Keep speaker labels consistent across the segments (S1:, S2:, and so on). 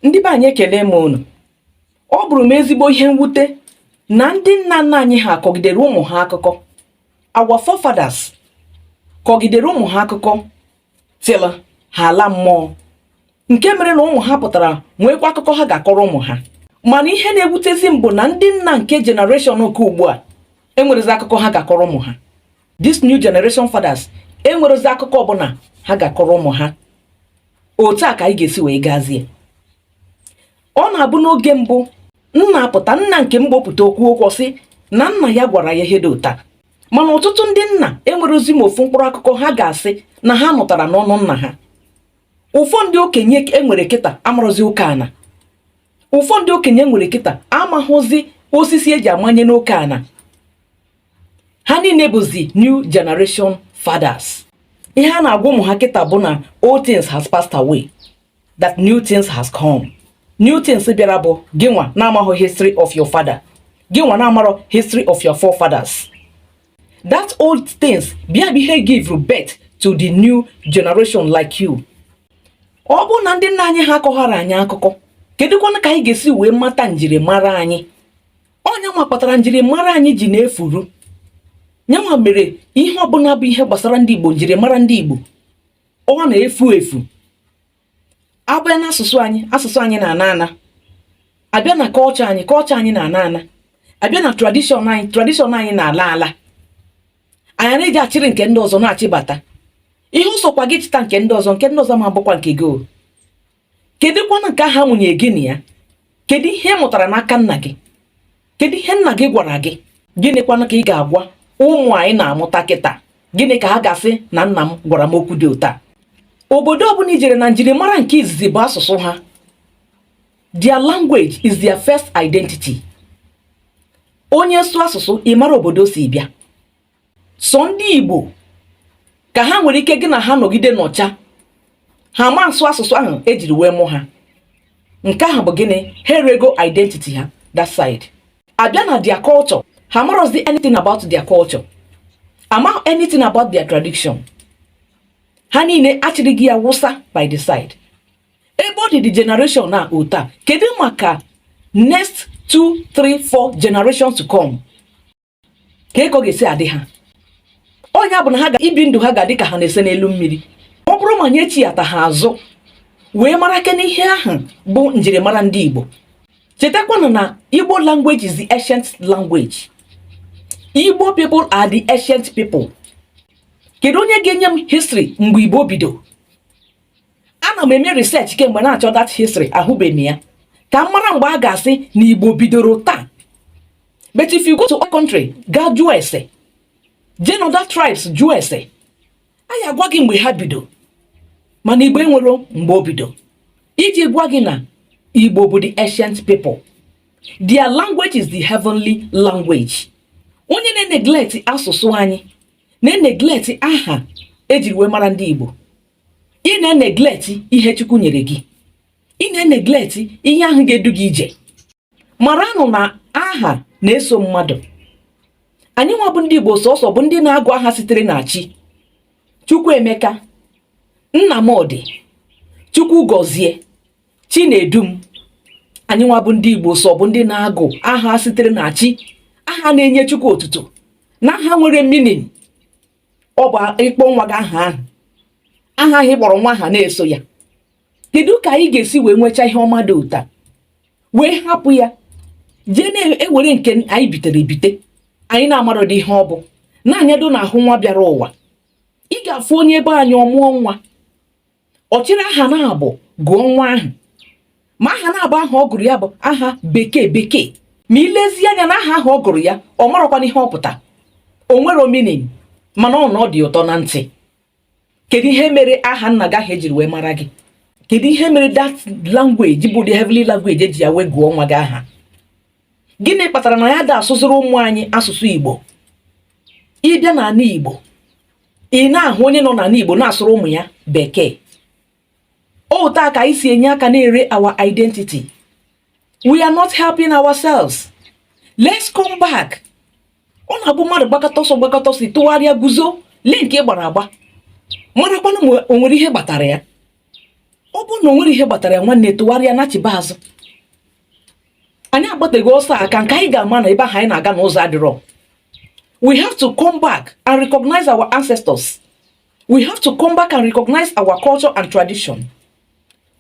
S1: ndị be anyị ekele m unu ọ bụrụ m ezigbo ihe mwute na ndị nna nna anyị ha kọgidere ụmụ ha akụkọ our forefathers kọgidere ụmụ ha akụkọ till ha ala mmụọ nke mere na ụmụ ha pụtara nweekwa akụkọ ha ga-akọrọ ụmụ ha mana ihe na-ewutezi m bụ na ndị nna nke generation nke ugbu a enwerezi akụkọ ha ga-akọrọ ụmụ ha this new generation fathers enwerezi akụkọ ọbụla ha ga-akọrọ ụmụ ha otu a ka anyị ga-esi wee gazie ọ na-abụ n'oge mbụ nna apụta nna nke mgbo pụta o kwuo okwu sị na nna ya gwara ya ihe dị otu a mana ọtụtụ ndị nna enwerozi ma ofu mkpụrụ akụkọ ha ga-asị na ha nụtara n'ọnụ nna ha ụfọ ndị okenye enwere kịta amarọzi oke ana ụfọ ndị okenye enwere kịta amaghụzi osisi eji amanye n'oke ana ha niile bụzi new generation fathers ihe a na-agwa ụmụ ha kịta bụ na old things has passed away that new things has come new things bịara bụ gị nwa na-amaghọ history of your father gị nwa na-amarọ history of your forefathers that old things bịa bụ ihe give birth to the new generation like you ọ bụrụ na ndị nna anyị ha akọghara anyị akụkọ kedụkwanụ ka anyị ga-esi wee mata njirimara anyị ọ nyanwa kpatara njirimara anyị ji na-efuru nyanwa mere ihe ọbụla bụ ihe gbasara ndị igbo njirimara ndị igbo ọ na-efu efu abịa na asụsụ anyị asụsụ anyị na-ana ana abịa na culture anyị culture anyị na-ana ana abịa na tradition anyị tradition anyị na-ala ala anyị na-eje achịrị nke ndị ọzọ na-achịbata ihe ọ sọkwa gị chịta nke ndị ọzọ nke ndị ọzọ ma bụkwa nke gị kedụkwanụ nke ahụ amụnyere gị na ya kedu ihe ị mụtara n'aka nna gị kedu ihe nna gị gwara gị gịnịkwanụ ka ị ga-agwa ụmụ anyị na-amụta kịta gịnị ka ha ga-asị na nna m gwara m okwu dị otu a obodo ọbụla i jere na njirimara nke izizi bụ asụsụ ha their language is their first identity onye sụọ asụsụ ị mara obodo o si bịa sọ ndị Igbo ka ha nwere ike gị na ha nọgide nọcha ha ma asụ asụsụ ahụ ejiri wee mụ ha nke ahụ bụ gịnị ha erego identity ha that side abịa na their culture ha marọzi anything about their culture amahụ anything about their tradition ha niile achịrịgo ya wụsa by the side ebe ọ dị the generation a otu a kedu maka next two three four generations to come kee ka ọ ga-esi adị ha ọ ya-abụ na ha ga ibi ndụ ha ga-adị ka ha na-ese n'elu mmiri ọ bụrụ ma anyị echighata ha azụ wee marakwa n'ihe ahụ bụ njirimara ndị Igbo chetakwanụ na Igbo language is the ancient language Igbo people are the ancient people kedu onye ga-enye m history mgbe Igbo bido ana m eme research kemgbe na-achọ that history ahụbeghị m ya ka m mara mgbe a ga-asị na Igbo bidoro taa but if you go to our country gaa jụọ ese jee na other tribes jụọ ese a ya-agwa gị mgbe ha bido mana igbo enwerọ mgbe o bido iji gwa gị na igbo bụ the ancient people their language is the heavenly language onye na-eneglect asụsụ anyị na-eneglect aha ejiri wee mara ndị igbo ị na-eneglect ihe chukwu nyere gị ị na-eneglect ihe ahụ ga-edu gị ije maranụ na aha na-eso mmadụ anyị nwa bụ ndị Igbo sọsọ bụ ndị na-agụ aha sitere na chi Chukwuemeka Nnamdi Chukwugọzie Chinedum anyị nwa bụ ndị Igbo sọ bụ ndị na-agụ aha sitere na chi aha na-enye Chukwu otuto na aha nwere meaning ọ bụ ị kpọọ nwa gị aha ahụ aha ahụ ị kpọrọ nwa ahụ na-eso ya kedu ka anyị ga-esi wee nwechaa ihe ọma dị otu a wee hapụ ya jee na-ewere nke anyị bitere ebite anyị na-amarọdị ihe ọ bụ na-anyado na ahụ nwa bịara ụwa ị ga-afụ onye ebe anyị ọ mụọ nwa ọ chịrị aha naabọ gụọ nwa ahụ ma aha naabọ ahụ ọ gụrụ ya bụ aha bekee bekee ma i lezie anya na aha ahụ ọ gụrụ ya ọ marọkwanụ ihe ọ pụta o nwerọ meaning mana ọ na ọ dị ụtọ na ntị kedu ihe mere aha nna gị ahụ ejiri wee mara gị kedu ihe mere that language bụ the heavenly language eji ya wee gụọ nwa gị aha gịnị kpatara na anyị ada asụzịrị ụmụ anyị asụsụ igbo ị bịa n'ana igbo ị na-ahụ onye nọ n'ana igbo na-asụrụ ụmụ ya bekee otu a ka anyị si enye aka na-ere our identity we are not helping ourselves let's come back ọ na-abụ mmadụ gbakata ọsọ gbakata ọsọ tụgharịa guzo lee nke ị gbara agba marakwanụ ma o nwere ihe gbatara ya ọ bụrụ na o nwerọ ihe gbatara ya nwanne tụgharịa nachiba azụ anyị agbateghị ọsọ aka nke anyị ga-ama na ebe ahụ anyị na-aga na ụzọ adịrọ we have to come back and recognize our ancestors we have to come back and recognize our culture and tradition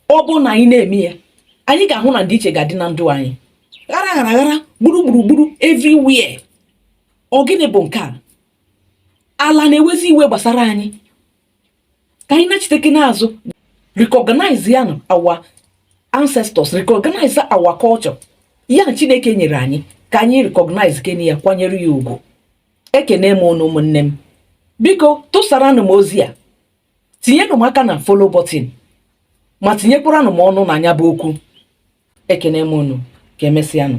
S1: ọ bụ na anyị na-eme ya anyị ga-ahụ na ndịiche ga-adị na ndụ anyị ghara ghara ghara gburugburu gburu everywhere ọ gịnị bụ nke a ala na-ewezi iwe gbasara anyị ka anyị nachitekene azụ recognize ya na our ancestors recognize our culture ya chineke nyere anyị ka anyị recognize kene ya kwanyere ya ugwu ekene m unu ụmụnne m biko tụsaranụ m ozi a tinyenụ m aka na follow button ma tinyekwaranụ m ọnụ na nya bụ okwu ekene m unu ka emesịanụ